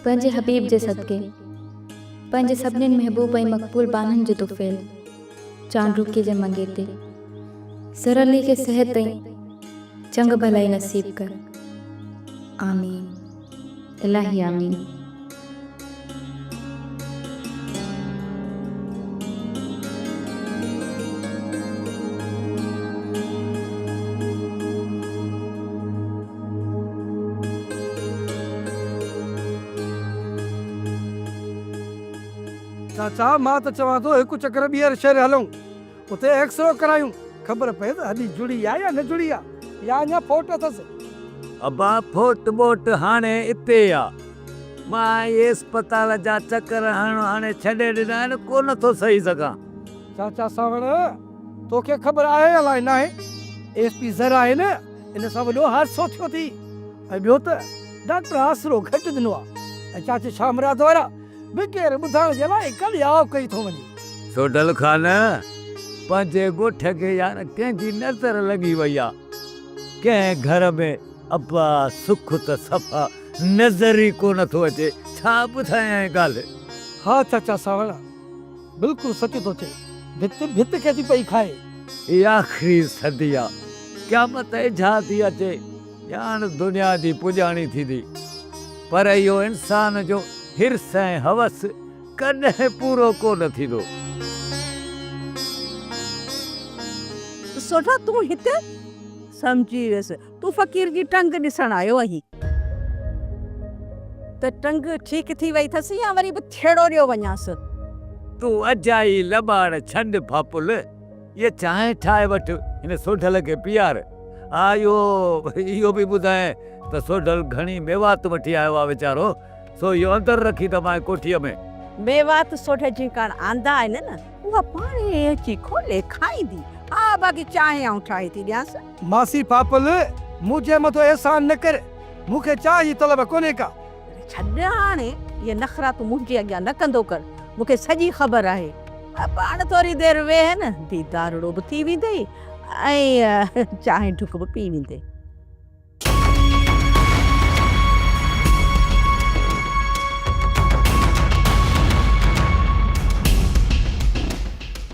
پنهنجي حبيب جي صدقي. پنهنجي سڀنين محبوب ۽ مقبول ٻانهن جو طفيل. چانڊوڪي جي منگيتي. سرلي کي صحت ۽ چڱ ڀلائي نصيب ڪر. آمين. الاهي آمين. چاچا مان ته چوان ٿو هڪ چڪر ٻيهر شهر هلون اتي ايڪسرو ڪرايون خبر پئي ته هڏي جڙي آ يا نه جڙي آ يا اڃا ڦوٽ اٿس. ابا ڦوٽ ٻوٽ هاڻي اتي آ مان اهي اسپتال جا چڪر هڻڻ هاڻي ڇڏي ڏنا آهن ڪو نه ٿو سهي سگهان. چاچا سانوڻ توکي خبر آهي يا لاء ناهي ايس پي زر آهي نه. ان سان وڏو حادثو ٿيو ٿي ۽ ٻيو ته ڊاڪٽر آسرو گهٽ ڏنو آ ۽ چاچي شاهه مراد وارا به ڪير ٻڌائڻ جي لاء ڪل ياء ڪئي ٿو وڃي. سوڍل خان! پنهنجي ڳوٺ کي يار ڪنهن جي نظر لڳي وئي آ. ڪنهن گهر ۾ ابا سک ته صفا نظر ئي ڪونه ٿو اچي. ڇا ٻڌايانء ڳالهه. ها چاچا سانوڻا! بلڪل سچ ٿو چئي. ڀت ڀت کي ٿي پئي کائي. هي آخري صدي آ. قيامت ايجها ٿي اچي. ڄاڻ دنيا جي پڄاڻي ٿيندي. پر اهو انسان جو حرص ۽ هوس ڪڏهن پورو ڪو نه ٿيندو. سوڍا تون هتي؟ سمجهي ويس. تون فقير جي ٽنگ ڏسڻ آيو آهين ته ٽنگ ٺيڪ ٿي وئي اٿس يا وري به ٿيڙو ڏيو وڃانس. تون اجائي لٻاڙ ڇنڊ ڦاڦل، هيء چانهه ٺاهي وٺ، هن سوڍل کي پيار. آء اهو اهو به ٻڌايائين ته سوڍل گهڻي ميوات وٺي آيو آهي ويچارو، سو اهو اندر رکي دٻائين ڪوٺيء ۾. ميوات سوڍل جي ڪاڻ آندا آهن نه، اها پاڻهي اچي کولي کائيندي. ها، باقي چانهه آئون ٺاهي ٿي ڏيانس. ماسي پاپل! مون جي مٿو احسان نه ڪر، مون کي چاهه جي طلب ڪونهي ڪا. ڇڏ هاڻ اهي نخرا تون منهنجي اڳيان نه ڪندو ڪر، مون کي سڄي خبر آهي. پاڻ ٿوري دير ويهه نه، ديدارڙو به ٿي ويندي ۽ چانهه ڍڪ به پي ويندي.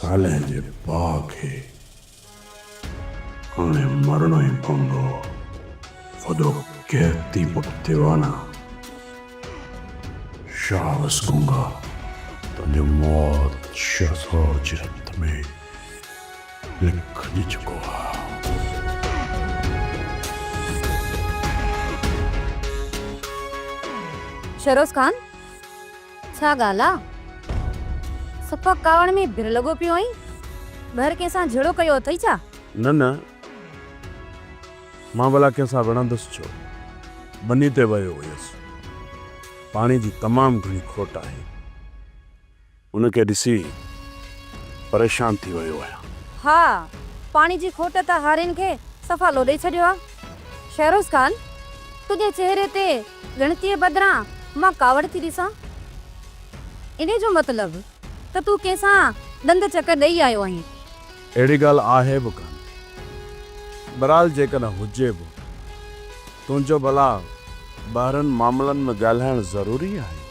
صالح جي پاء کي هاڻي مرڻو ئي پوندو هو. فدو قحطي پٽ ديوانا شاهه وس گونگا تنهنجو موت ڇهه سؤ جهت ۾ لکجي چڪو آ. شهروز خان! ڇا ڳالهه آ؟ صفا ڪاوڙ ۾ ڀر لڳو پيو آهين. ٻهر ڪنهن سان جهيڙو ڪيو اٿئي ڇا؟ نه نه. مان ڀلا ڪنهن سان وڙهندس ڇو؟ ٻني تي ويو هيس. پاڻي جي تمام گهڻي کوٽ آهي. ان کي ڏسي پريشان ٿي ويو آهيان. ها. پاڻي جي کوٽ ته هارين کي صفا لوڏي ڇڏيو آ. شهروز خان، تنهنجي چهري تي ڳڻتيء بدران مان ڪاوڙ ٿي ڏسان. انهيء جو مطلب ته تون ڪنهن سان ڏند چڪ ڏئي آيو آهين. اهڙي ڳالهه آهي به ڪانه. برحال جيڪڏهن هجي به، تنهنجو ڀلا ٻاهرن معاملن ۾ ڳالهائڻ ضروري آهي؟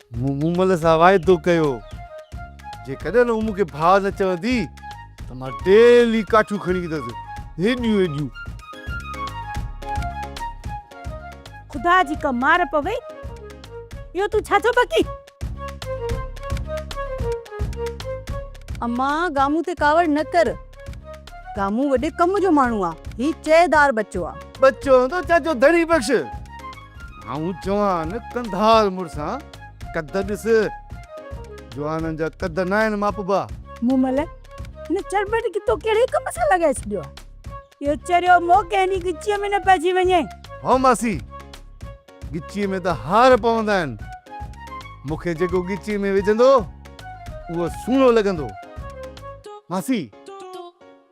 مون مومل سان واعدو ڪيو جيڪڏهن هوء مون کي ڀاء نه چوندي ته مان ڊيلي ڪاٺيون کڻي ايندس هيڏيون هيڏيون. خدا جي ڪا مار پوي اهو تون ڇا ٿو بڪين. امان گامون تي ڪاوڙ نه ڪر گامون وڏي ڪم جو ماڻهو آ هي چيدار ٻچو آ. ٻچو هوندو ڇا جو ڌڻي بخش. آئون جوان ڪنڌار مڙسان قد ڏس. جوانن جا قد ناهن ماپبا. مومل، هن چرٻٽ کي تو ڪهڙي ڪم سان لڳائي ڇڏيو آهي. اهو چريو مئو ڪنهن ڏينهن ڳچيء ۾ نه پئجي وڃي. هو ماسي، ڳچيء ۾ ته هار پوندا آهن. مون کي جيڪو ڳچيء ۾ وجهندو، اهو سهڻو لڳندو. ماسي!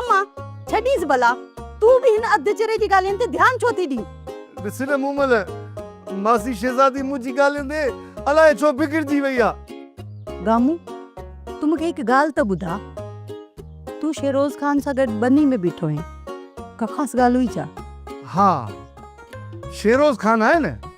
اما، ڇڏيس ڀلا، تون به هن اڌ چري جي ڳالهين تي ڌيان ڇو ٿي ڏين؟ ڏس نه مومل، ماسي شهزادي منهنجي ڳالهين تي الائي ڇو بگڙجي وئي آ. گامو، تون مون کي هڪ ڳالهه ته ٻڌاء، تون شيروز خان سان گڏ ٻني ۾ بيٺو آهين، ڪا خاص ڳالهه هئي ڇا؟ ها، شيروز خان آهي نه.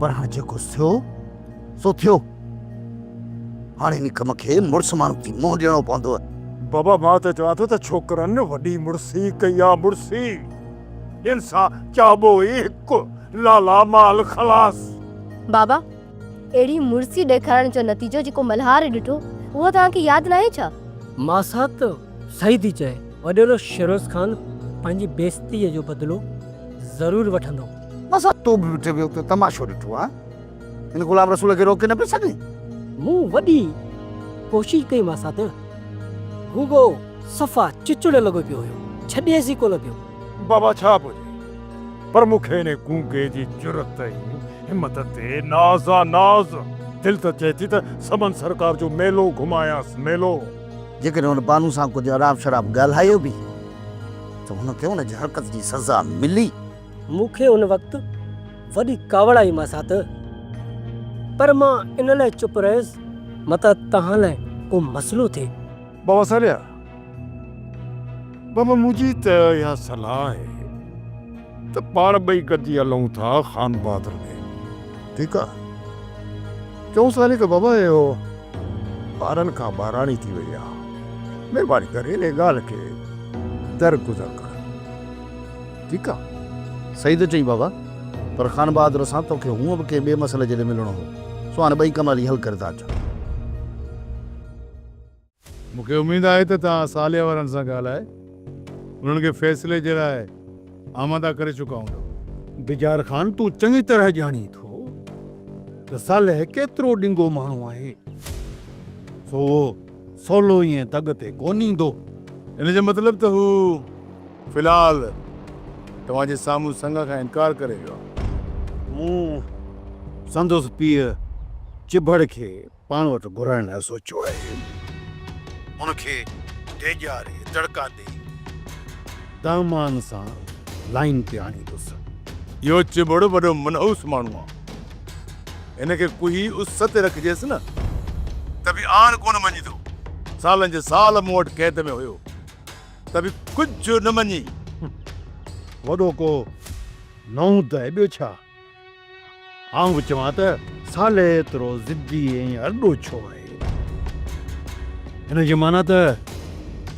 پر هاڻي جيڪو ٿيو سو ٿيو. هاڻي انهي ڪم کي مڙس ماڻهوء جي منهن ڏيڻو پوندو. بابا مان ته چوان ٿو ته ڇوڪرن وڏي مڙسي ڪئي آ مڙسي هن سان چئبو ئي هڪ لالا مال خلاص. بابا اهڙي مڙسي ڏيکارڻ جو نتيجو جيڪو ملهار ڏٺو اهو توهان کي ياد ناهي ڇا؟ ماسات صحيح ٿي چئين وڏيرو شيروز خان پنهنجي بيعزتي جو بدلو ضرور وٺندو. بس آ تو به وٺي ويو ته تماشو ڏٺو ها ان غلام رسول کي روڪي نه پئي سگهين. مون وڏي ڪوشش ڪئي مانس ته هو ڳو صفا چچڙ لڳو پيو هيو ڇڏيس ئي ڪونه پيو. بابا ڇا به هجي پر مون کي انهي گونگي جي جرئت ۽ همت تي ناز آ ناز. دل ته چئي ٿي ته سمن سرڪار جو ميلو گهمايانس ميلو. جيڪڏهن هن بانو سان ڪجهه اراب شراب ڳالهايو به ته هن کي ان جي حرڪت جي سزا ملي. مون کي ان وقت وڏي ڪاوڙ آئي مان سان ته پر مان ان لاء چپ رهيس متان توهان لاء ڪو مسئلو ٿئي. بابا ساليا، بابا منهنجي ته اها صلاح آهي. ته پاڻ ٻئي گڏجي هلون ٿا خان بهادر ڏي. ٺيڪ آ. چئونس ٿا ني ته بابا اهو ٻارن کان ٻاراڻي ٿي وئي آ. مهرباني ڪري انهيء ڳالهه کي در گذر ڪر. ٺيڪ آ. صحيح ٿو چئين بابا. پر خان بهادر سان تو کي هونء به ڪنهن ٻئي مسئلي جي لاء ملڻو هو. سو هاڻي ٻئي ڪم هلي حل ڪري ٿا اچون. مون کي اميد آهي ته توهان صالح وارن سان ڳالهائي انهن کي فيصلي جي لاء آماده ڪري چڪا هوندؤ. بجار خان تون چڱي طرح ڄاڻين ٿو ته صالح ڪيترو ڏنگو ماڻهو آهي، سو اهو سولو ائين دڳ تي ڪونه ايندو. ان جو مطلب ته هو في الحال توهان جي سامهون سڱ کان انڪار ڪري ويو آهي. مون سندس پيء چڀڙ کي پاڻ وٽ گهرائڻ لاء سوچيو آهي. ان کي ڊيڄاري دڙڪا ڏئي دامان سان لائين تي آڻيندس. اهو چٻڙ وڏو منحوس ماڻهو آ. هن کي ڪوهي اس تي رکجيس نه ته به آڻ ڪونه مڃيندو. سالن جي سال مون وٽ قيد ۾ هيو ته به ڪجهه نه مڃي. وڏو ڪو نئون ته آهي ٻيو ڇا؟ آئون به چوان ته صالح ايترو ضدي ۽ ارڏو ڇو آهي؟ ان جي معنيٰ ته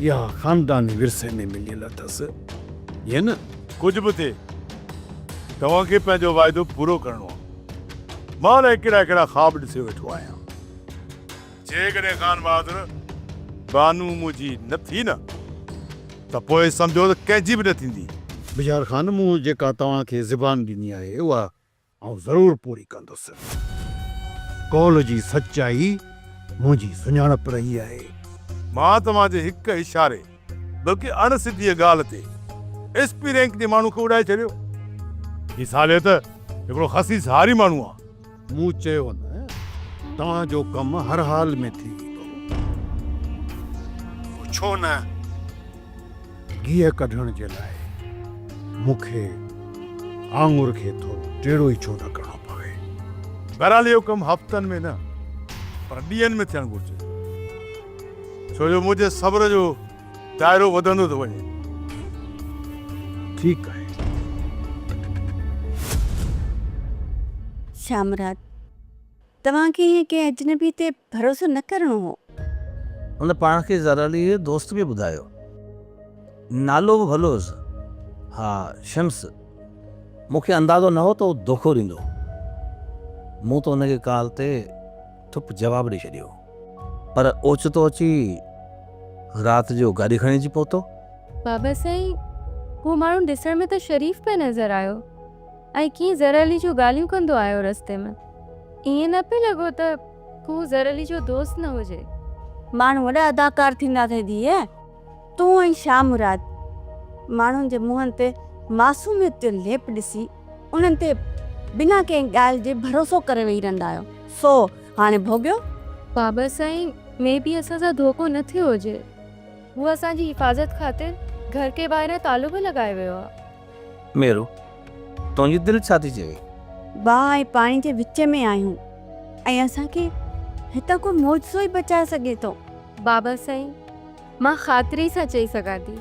اها خانداني ورثي ۾ مليل اٿس، ائين نه؟ ڪجهه به ٿئي، توهان کي پنهنجو واعدو پورو ڪرڻو آهي. مان الائي ڪهڙا ڪهڙا خواب ڏسي ويٺو آهيان. جيڪڏهن خان بهادر بانو منهنجي نه ٿي نه ته پوء سمجهو ته ڪنهن جي به نه ٿيندي. بجار خان مون جيڪا توهان کي زبان ڏني آهي اها آئون ضرور پوري ڪندس. قول جي سچائي منهنجي سڃاڻپ رهي آهي. مان توهان جي هڪ اشاري بلڪه اڻ سڌيء ڳالهه تي ايس پي رينڪ جي ماڻهو کي اڏائي ڇڏيو. هي ساليت هڪڙو خسيس هاري ماڻهو آهي. مون چيو نه توهان جو ڪم هر حال ۾ ٿي ويندو. پڇو نه گيهه ڪڍڻ جي لاء مون کي آڱر کي ٿورو ٽيڙو ئي ڇو نه ڪرڻو پوي. بهرحال اهو ڪم هفتن ۾ نه پر ڏينهن ۾ ٿيڻ گهرجي ڇو جو منهنجي صبر جو دائرو وڌندو ٿو وڃي. ٺيڪ آهي. شامراد، توهان کي ائين ڪنهن اجنبي تي ڀروسو نه ڪرڻو هو. هن پاڻ کي زرعليء جو دوست به ٻڌايو. نالو به ڀلو هيس. ها شمس، مون کي اندازو نه هو ته هو دوکو ڏيندو. مون ته هن کي ڪال تي ٺپ جواب ڏئي ڇڏيو هو. پر اوچتو اچي رات جو گاڏي کڻي اچي پهتو. بابا سائين، هو ماڻهو ڏسڻ ۾ ته شريف پئي نظر آيو ۽ ڪيئي ظهر علي جون ڳالهيون ڪندو آيو رستي ۾. ائين نه پئي لڳو ته هو ظهر علي جو دوست نه هجي. ماڻهو وڏا اداڪار ٿيندا اٿئي ڌيء. تون ۽ شاهه مراد ماڻهن جي منهن تي معصوميت جو ليپ ڏسي انهن تي بنا ڪنهن ڳالهه جي ڀروسو ڪري ويهي رهندا آهيو سو هاڻي ڀوڳيو. بابا سائين مي بي اسان سان ڌوڪو نه ٿيو هجي هو اسان جي حفاظت خاطر گهر کي ٻاهران تالو به لڳائي ويو آ. ميرو، تنهنجي دل ڇا ٿي چوي؟ باهه ۽ پاڻي جي وچ ۾ آهيون ۽ اسان کي هتان ڪو معجزو ئي بچائي سگهي ٿو. بابا سائين، مان خاطري سان چئي سگهان ٿي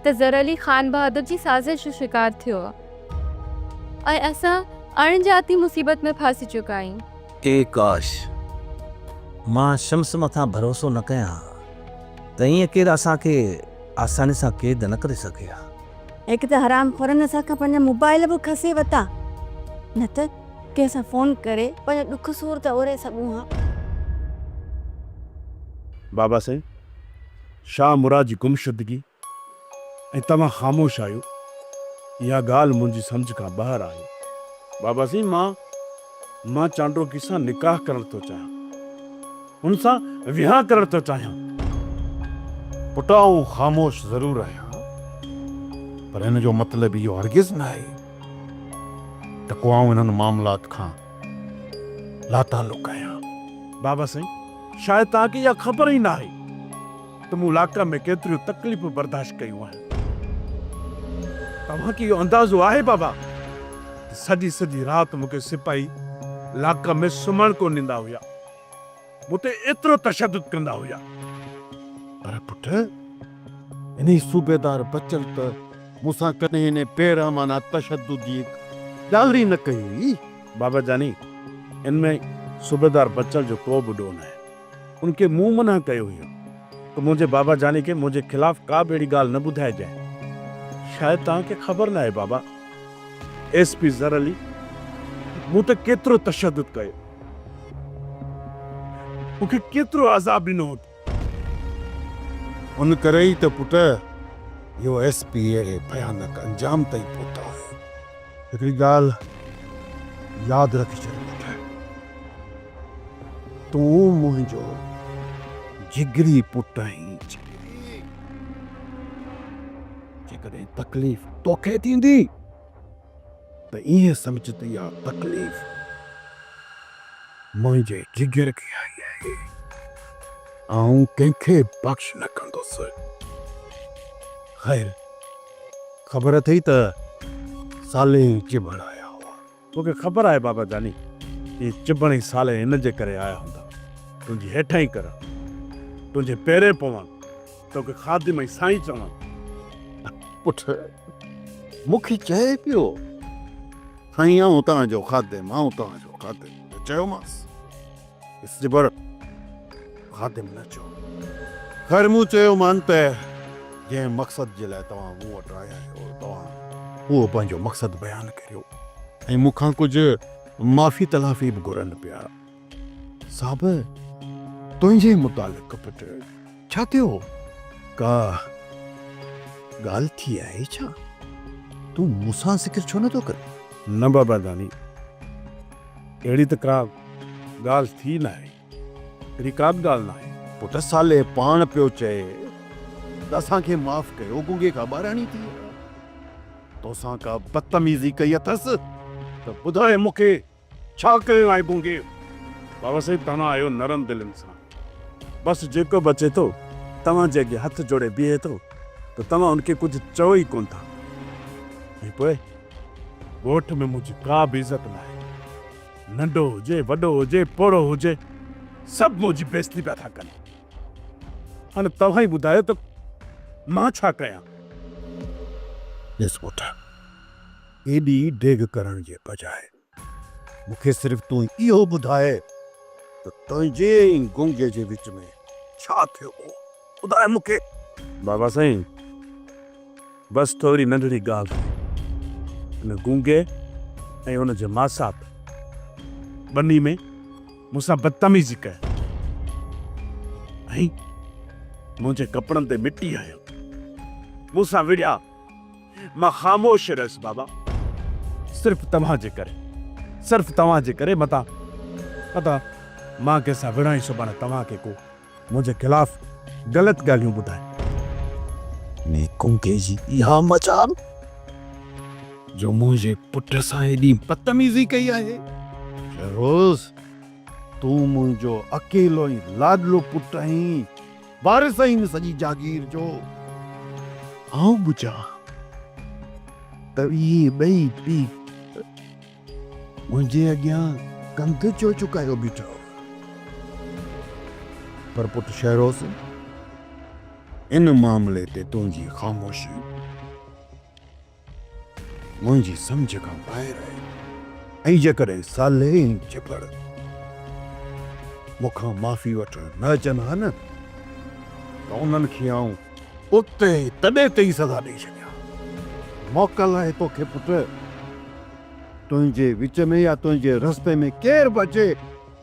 ته زرعلي خانبهادر جي سازش جو شڪار ٿيو آهي ۽ اسان اڻ ڄاتي مصيبت ۾ ڦاسي چڪا آهيون. اي ڪاش! مان شمس مٿان ڀروسو نه ڪيان ها ته ائين ڪير اسان کي آساني سان قيد نه ڪري سگهي ها. هڪ ته حرام خورن اسان کان پنهنجا موبائيل به کسي ورتا نه ته ڪنهن سان فون ڪري پنهنجو ڏک سور ته اوري سگهون ها. بابا سائين شاهه مراد جي گمشدگي ۽ توهان خاموش آهيو اها ڳالهه منهنجي سمجهه کان ٻاهر آهي. بابا سائين مان مان چانڊوڪي سان نڪاح ڪرڻ ٿو چاهيان. هن سان ويهان ڪرڻ ٿو چاهيان. پٽ آئون خاموش ضرور آهيان پر ان جو مطلب اهو هرگز نه آهي ته ڪو آئون انهن معاملات کان لاتعلق آهيان. بابا سائين شايد توهان کي اها خبر ئي نه آهي. ته مون لاڪ ۾ ڪيتريون تڪليفون برداشت ڪيون آهن. توهان کي اهو اندازو آهي بابا ته سڄي سڄي رات مون کي سپاهي لاڪ ۾ سمهڻ ڪونه ڏيندا هيا. مون تي ايترو تشدد ڪندا هيا. پر پٽ، انهي صوبيدار بچل ته مون سان ڪڏهن ان بي رحمانه تشدد جي هڪ ڳالهه ئي نه ڪئي هئي. بابا جاني، ان ۾ صوبيدار بچل جو ڪو به ڏوهه ناهي. ان کي مون منع ڪيو هيو ته منهنجي بابا جاني کي منهنجي خلاف ڪا به اهڙي ڳالهه نه ٻڌائجانء. شايد توهان کي خبر ناهي بابا، ايس پي زر علي مون تي ڪيترو تشدد ڪيو، مون کي ڪيترو عذاب ڏنو هو. ان ڪري ئي ته پٽ اهو ايس پي اهڙي ڀيانڪ انجام تائين پهتا آهيان. هڪڙي ڳالهه ياد رکي ڇڏ پٽ! تون منهنجو جگري پٽ آهين. جيڪڏهن تڪليف توکي ٿيندي ته ائين سمجهه ته اها تڪليف منهنجي جگر کي آئي آهي. آئون ڪنهن کي بخش نه ڪندس. خير خبر اٿئي ته صالح چٻڙ آيا هئا. تو کي خبر آهي بابا جاني، اهي چڀڻ ۽ سالي ان جي ڪري آيا هوندا، تنهنجي هيٺائين ڪرڻ، تنهنجي پيرين پوڻ، تو کي خادم ۽ سائين چوڻ. پٽ مون کي چئي پيو، سائين آئون توهان جو خادم، آئون توهان جو خادم. ته چيومانس. اسٽيبر خادم نه چئو. خير مون چيو مان ته جنهن مقصد جي لاء توهان مون وٽ آيا آهيو توهان اهو پنهنجو مقصد بيان ڪريو ۽ مون کان ڪجهه معافي تلافي به گهرن پيا. صاحب تنهنجي متعلق پٽ. ڇا ٿيو هو؟ ڪا ڳالهه ٿي آهي ڇا؟ تون مون سان ذڪر ڇو نٿو ڪرين؟ نه بابا داني، اهڙي ته ڪا ڳالهه ٿي ناهي. اهڙي ڪا به ڳالهه ناهي. پٽ صالح پاڻ پيو چئي ته اسان کي معاف ڪيو، گونگي ڪا ٻاراڻي ٿي آهي، توسان ڪا بدتميزي ڪئي اٿس ته ٻڌاء مون کي ڇا ڪيو آهي گونگي؟ بابا صاحب توهان آهيو نرم دل انسان بس جيڪو به اچي ٿو توهان جي اڳيان هٿ جوڙي بيهي ٿو ته توهان ان کي ڪجهه چئو ئي ڪونه ٿا ۽ پوء ڳوٺ ۾ منهنجي ڪا به عزت ناهي ننڍو هجي وڏو هجي پوڙهو هجي سڀ منهنجي بيزتي پيا ٿا ڪن هاڻي توهان ئي ٻڌايو ته مان ڇا ڪيان؟ ڏس پٽ. ايڏي ڊيگهه ڪرڻ جي بجاء مون کي صرف تون اهو ٻڌاء ته تنهنجي ۽ گونگي جي وچ ۾ ڇا ٿيو هو، ٻڌاء مون کي. بابا سائين، بس ٿوري ننڍڙي ڳالهه آهي. ان گونگي ۽ ان جي ماسات ٻنهي ۾ مون سان بدتميزي ڪئي ۽ منهنجي ڪپڙن تي مٽي هنيو. مون سان وڙهيا مان خاموش رهيس بابا. صرف توهان جي ڪري. صرف توهان جي ڪري متان متان مان ڪنهن سان وڙهان ئي سڀاڻي توهان کي ڪو منهنجي خلاف غلط ڳالهيون ٻڌائي. انهي گونگي جي اها مجال جو منهنجي پٽ سان ايڏي بدتميزي ڪئي آهي. فيروز تون منهنجو اڪيلو ۽ لاڏلو پٽ آهين وارث آهين سڄي جاگير جو. آئون به چان ته اهي ٻئي پيء منهنجي اڳيان ڪنڌ ڇو جهڪايو بيٺا هئا. پر پٽ شهروز ان معاملي تي تنهنجي خاموشي. منهنجي سمجهه کان ٻاهر آهي ۽ جيڪڏهن صالح ۽ چپڙ مون کان معافي وٺڻ نه اچن ها نه ته انهن کي آئون اتي تڏي تي ئي سزا ڏئي ڇڏيان ها. موڪل آهي توکي پٽ، تنهنجي وچ ۾ يا تنهنجي رستي ۾ ڪير به اچي،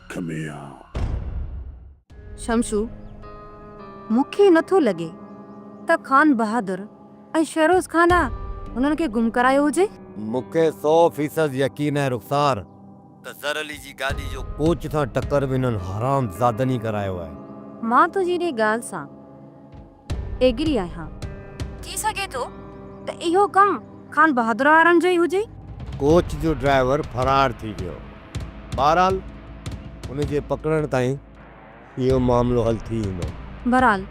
اک ۾ آ. شمشو، مون کي نه ٿو لڳي ته خان بهادر ۽ شهروز خان آ هنن کي گم ڪرايو هجي. مون کي سو فيصد يقين آهي رخسار ته زر علي جي گاڏي جو ڪوچ سان ٽڪر به هنن حرامزادن ئي ڪرايو آهي. مان تنهنجي انهيء ڳالهه سان. ايگري آهيان. ٿي سگهي ٿو ته اهو ڪم خان بهادر وارن جو ئي هجي. ڪوچ جو ڊرائيور فرار ٿي ويو. بهرحال ان جي پڪڙڻ تائين اهو معاملو حل ٿي ويندو. بهرحال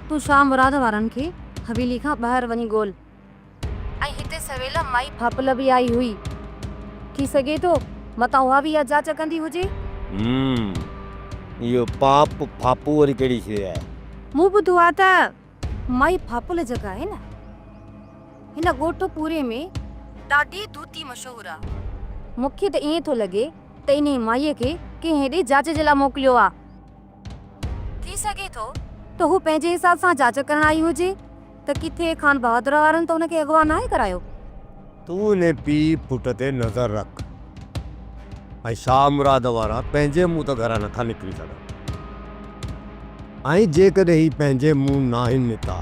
تون شاهه مراد وارن کي حويلي کان ٻاهر وڃي ڳول. ۽ هتي سويل مائي ڦاپل به آئي هئي. ٿي سگهي ٿو متان اها به اها جاچ ڪندي هجي. هم اهو پاپ ڦاپو وري ڪهڙي شيء آهي؟ مون ٻڌو آهي ته مائي ڦاپل جيڪا آهي نه هن ڳوٺ پوري ۾ ڏاڍي دودتي مشهور آهي. مون کي ته ائين ٿو لڳي ته انهيء مائيء کي ڪنهن هيڏي جاچ جي لاء موڪليو آهي. ٿي سگهي ٿو ته هو پنهنجي حساب سان جاچ ڪرڻ آئي هجي ته ڪٿي خانبهادر وارن ته هن کي اغوا ناهي ڪرايو. تون انهي پيء پٽ تي نظر رک ۽ شاهه مراد وارا پنهنجي منهن ته گهران نٿا نڪري سگهن ۽ جيڪڏهن هي پنهنجي منهن ناهن نڪتا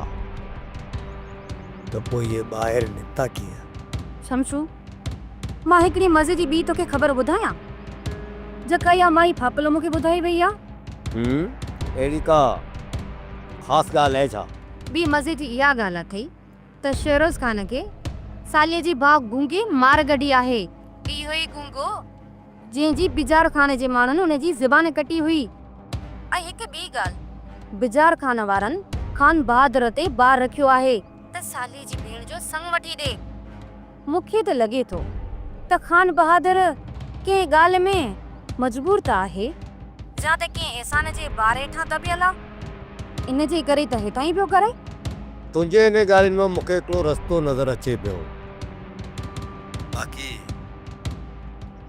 ته پوء اهي ٻاهر نڪتا ڪيئن؟ شمشو، مان هڪڙي مزي جي ٻي توکي خبر ٻڌايان، جيڪا اها مائي ڦاپلو مونکي ٻڌائي وئي آ. هوم، اهڙي ڪا خاص ڳالهه اهي ڇا؟ ٻي مزي جي اها ڳالهه اٿئي ته شيروز خان کي ساليء جي ڀاء گونگي مار ڳڍي آهي. اهو ئي گونگو، جنهن جي بجار خان جي ماڻهن ان جي زبان ڪٽي هئي. ۽ هڪ ٻي ڳالهه، بجار خان وارن خان بهادر تي بار رکيو آهي. ته ساليء جي ڀيڻ جو سڱ وٺي ڏي. مون کي ته لڳي ٿو ته خانبهادر ڪنهن ڳالهه ۾ مجبور ته آهي. جا ته ڪنهن احسان جي بار هيٺان دٻيل آ. ان جي ڪري ته هيتان ئي پيو ڪري. تنهنجي انهي ڳالهين مان مون کي هڪڙو رستو نظر اچي پيو. باقي.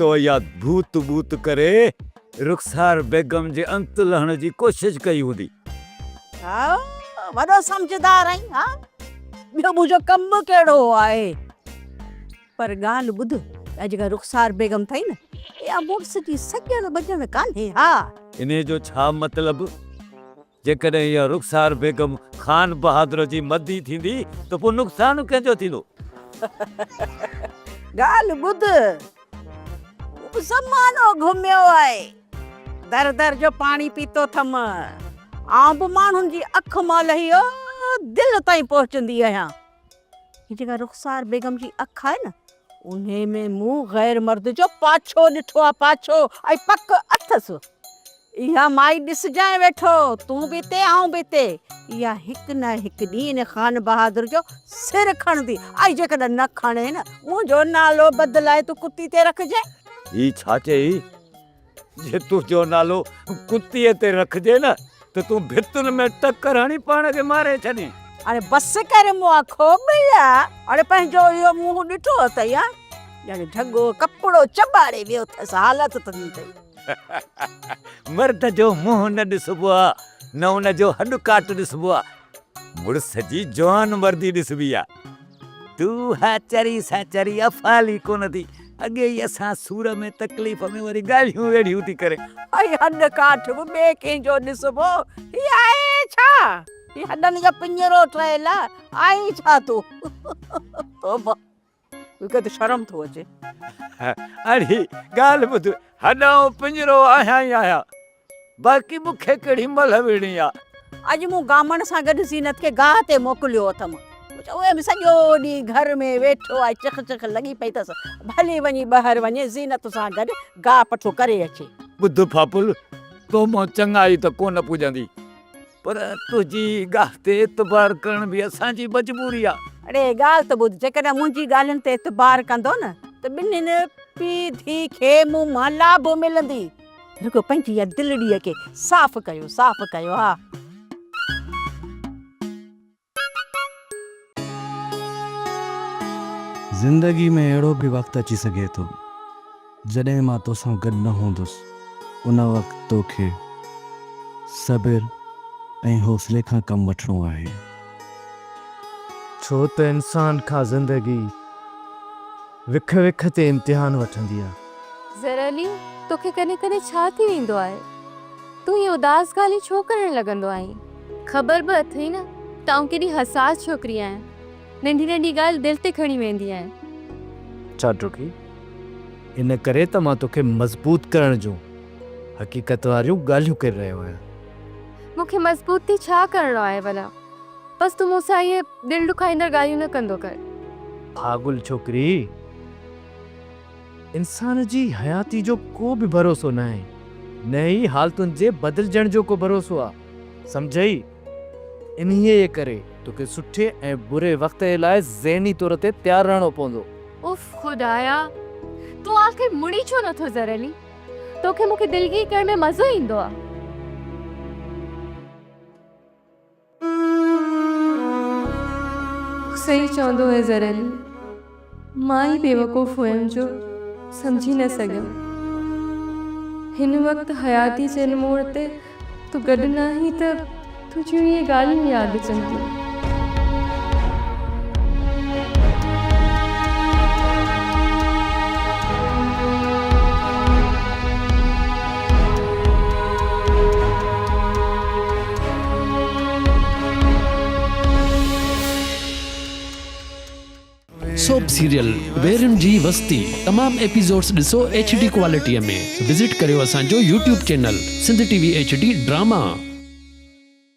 تو يا ڀوت ٻوت ڪري رخسار بيگم جي انت لهڻ جي ڪوشش ڪئي هوندي. ها وڏو سمجهدار آهين ها ٻيو منهنجو ڪم به ڪهڙو آهي پر ڳالهه ٻڌ اها جيڪا رخسار بيگم اٿئي نه اها مڙس جي سڄڻ ٻڄڻ ڪانهي ها. انهي جو ڇا مطلب؟ جيڪڏهن اها رخسار بيگم خان بهادر جي مدي ٿيندي ته پوء نقصان ڪنهن جو ٿيندو؟ ڳالهه ٻڌ، مون زمانو گهميو آهي، در در جو پاڻي پيتو اٿم، آئون به ماڻهن جي اک مان لهي دل تائين پهچندي آهيان، هي جيڪا رخسار بيگم جي اک آهي نه انهي ۾ مون غير مرد جو پاڇو ڏٺو آهي پاڇو ۽ پڪ اٿس اها مائي ڏسجانء ويٺو تون به اتي آئون به اتي اها هڪ نه هڪ ڏينهن ان خان بهادر جو سر کڻندي ۽ جيڪڏهن نه کڻي نه منهنجو نالو بدلائي تون ڪتي تي رکجانء. هي ڇا چيئي؟ جي تنهنجو نالو ڪتيء تي رکجي نه ته تون ڀتن ۾ ٽڪر هڻي پاڻ کي ماري ڇڏين. اڙي بس ڪر مئا کوٻيا. اڙي پنهنجو اهو منهن ڏٺو اٿئي ها؟ ڄڻ ڍڳو ڪپڙو چٻاڙي ويو اٿس حالت ته دي اٿئي. مرد جو منهن نه ڏسبو آ نه ان جو هڏ ڪاٽ ڏسبو آ مڙس جي جوان مردي ڏسبي آ. تو ها چري سا چري افعال ئي ڪونه ٿي اڳي ئي اسان سور ۾ تڪليف ۾ وري ڳالهيون ويڙهيون ٿي ڪرين. هي هڏ ڪاٺ به ٻئي ڪنهن جو ڏسبو هي آهي ڇا هي هڏن جو پڃرو ٺهيل آهين ڇا تون توبه توکي ته شرم ٿو اچي. اڙي ڳالهه ٻڌ هڏ آئون پڃرو آهيان ئي آهيان. باقي مون کي ڪهڙي ملهه ويڙهڻي آ. اڄ مون گامڻ سان گڏ زينت کي گاهه تي موڪليو اٿم. اهي به سڄو ڏينهن گهر ۾ ويٺو آهي چخ چخ لڳي پئي اٿس. ڀلي وڃي ٻاهر وڃي زينت سان گڏ گاهه پٺو ڪري اچي. ٻڌ ڦاڦل، تو مان چڱائي ته ڪونه پڄندي. پر تنهنجي گاهه تي اعتبار ڪرڻ به اسان جي مجبوري آ. اڙي ڳالهه ته ٻڌ، جيڪڏهن منهنجي ڳالهين تي اعتبار ڪندو نه ته ٻنهين پيء ڌيء کي مون مان لاڀ ملندي. رڳو پنهنجي اها دلڙيء کي صاف ڪيو، صاف ڪيو ها. زندگي ۾ اهڙو به وقت اچي سگهي ٿو، جڏهن مان توسان گڏ نه هوندس. ان وقت توکي صبر ۽ حوصلي کان ڪم وٺڻو آهي. ڇو ته انسان کان زندگي. وک وک تي امتحان وٺندي آ. زرعلي، توکي ڪڏهن ڪڏهن ڇا ٿي ويندو آهي؟ تون ائين اداس ڳالهيون ڇو ڪرڻ لڳندو آهين؟ خبر به اٿئي نه ته آئون ڪيڏي حساس ڇوڪري آهيان، ننڍي ننڍي ڳالهه دل تي کڻي ويندي آهيان. اڇا ڊگهي، ان ڪري ته مان توکي مضبوط ڪرڻ جون حقيقت واريون ڳالهيون ڪري رهيو آهيان. مون کي مضبوط ٿي ڇا ڪرڻو آهي ڀلا؟ بس تون مون سان اهي دل ڏکائيندڙ ڳالهيون نه ڪندو ڪر. پاڳل ڇوڪري! انسان جي حياتي جو ڪو به ڀروسو ناهي، نه ئي حالتن جي بدلجڻ جو ڪو ڀروسو آ، سمجهئي! انهيء ڪري توکي سٺي ۽ بري وقت جي لاء ذهني طور تي تيار رهڻو پوندو. اف خدايا! تون آخر مڙي ڇو نه ٿو زرعلي! توکي مون کي دلگير ڪرڻ ۾ مزو ايندو آ. صحيح چوندو هي زرعلي. مان ئي بيوقوف هيم جو سمجهي نه سگهيم. هن وقت حياتي چئن موڙ تي تون گڏ ناهين ته تنهنجون اهي ڳالهيون ياد اچن ٿيون. سوپ سيريل ويرين جي وستي تمام ايپيسوڊس ڏسو ايڇ ڊي ڪوالٽي ۾ وزٽ ڪريو اسان جو YouTube channel Sindh T V H D drama.